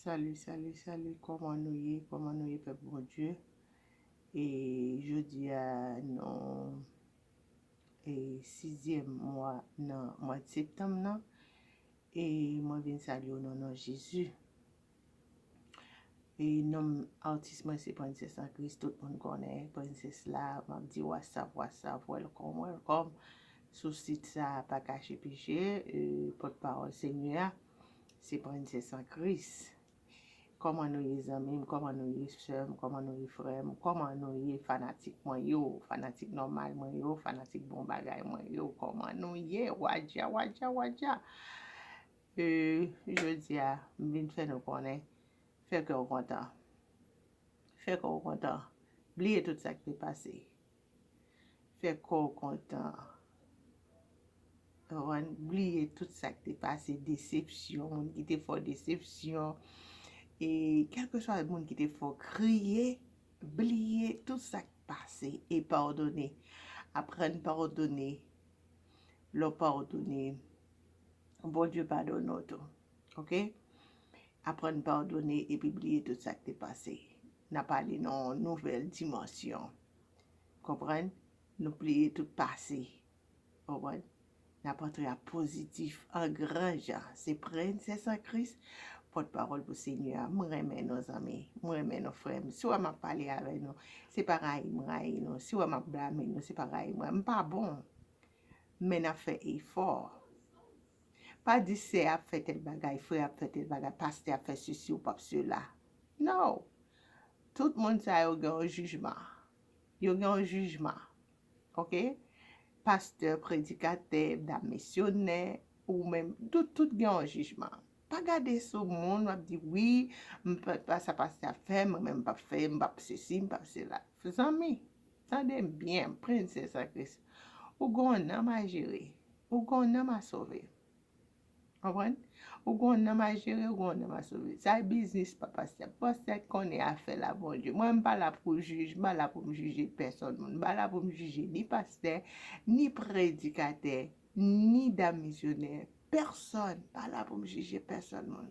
Salut salut salut kòman nou ye kòman nou ye pèp Bondye e jodia nou e sizyèm mwa nan mwad septanm nan e mwen vin salye w nan non Jezi e nom atis mwen se prensès an kris tout moun konnen prensès la map di wasav wasav wèlkòm wèlkòm sou sit sa pa kache peche e pòt pawòl senyè a. Se Princess San Kris Kòman nou ye zanmim kòman nou ye sèm kòman nou ye frèm kòman nou ye fanatik mwen yo fanatik nòmal mwen yo fanatik bon bagay mwen yo kòman nou ye wadja wadja wadja ee jodia m vin fè nou konnen fè kèw kontan fè kòw kontan bliye tout sak te pase. fè kò w kontan konprann bliye tout sa ki te pase desepsyon moun ki te fè w desepsyon e kèlkeswa moun ki te fè w kriye bliye tout sa ki pase e padone aprann padone lè w padone Bondye padone w tou ok aprann padone epi bliye tout sa ki te pase n ap ale nan yon nouvèl dimansyon. Konprann? Nou pliye tout pase. Konprann? N ap antre a pozitif, an gran jan. Se Prensès an Kris, Pòt Pawòl pou Senyè a. M renmen nou zanmi. M renmen nou frè m. Si w wè m ap pale avè nou, se pa rayi m rayi nou. Si w wè m ap blame nou, se pa rayi m rayi nou. M pa bon. Men n ap fè efò. Pa di sè ap fè tèl bagay, frè ap fè tèl bagay, pastè ap fè sesi ou pap sela. No! Tout moun sa yo gen yon jijman. Yo gen yon jijman. Ok? Pastè, predikatè, dam misyonè, ou menm, nou tout gen yon jijman. Pa gade sou moun wap di wi, m pa fè sa pastè ap fè, mwen menm m pap fè, m pap sesi, m pap sela. Zanmi, tande m byen, prensès an Kris. Ou gen yon nanm a jere. Ou gen yon nanm a sove. Konprann? Ou gen yon nanm a jere, ou gen yon nanm a sove. Sa e biznis pa pastè. Pastè konnen afè l a Bondye. Mwen m pa la pou jij, m pa la pou m jije pèsòn moun. M pa la pou m jije ni pastè, ni predikatè, ni dam misyonè. Pèsòn, m pa la pou m jije pèsòn moun.